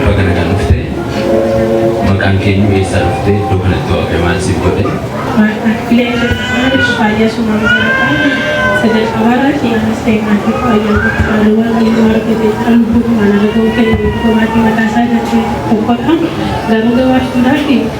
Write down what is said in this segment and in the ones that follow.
Baga nagaan dhufte. Maqaan keenya eessaa dhufte? Iddoo kanatti waaqayyo maal siif godhe? Thank you.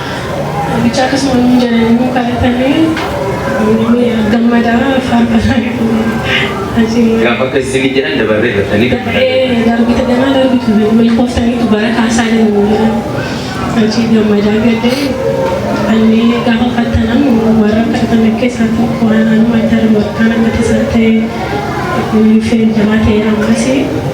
Guddicha akkasuma nuun jedhani immoo kadhatani ni gammada faarfannaa achiin Gaafa akkas isinii jedhan dabarree jettanii gammadan. ee darbita ganaa darbitu milkooftaniitu bara kaasaa deemu jedhan achii gammadaa gadee anni gaafa fattanan warra kadhatan keessaa tokko waan anuma darbu akkaan akka tasaa ta'e ulfeen jamaa ta'e ammasii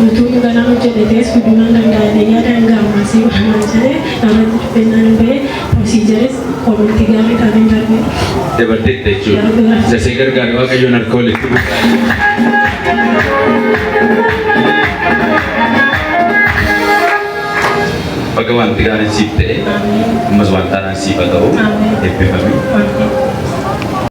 Utuu muganaa hojjete ta'e suduunan danda'a jedhee yaada hanga ammaasii waanaan jedhe irratti dubbennaan hin ba'e prosiijaris koomenti gaarii dhaabeen darbe. Dabarteetta jechuudha. Isa si gargaare Waaqayyoon harka walitti Baga wanti gaariin siif ta'e ammas wanta haaraan siif haa ta'u eebbifami. Ameen.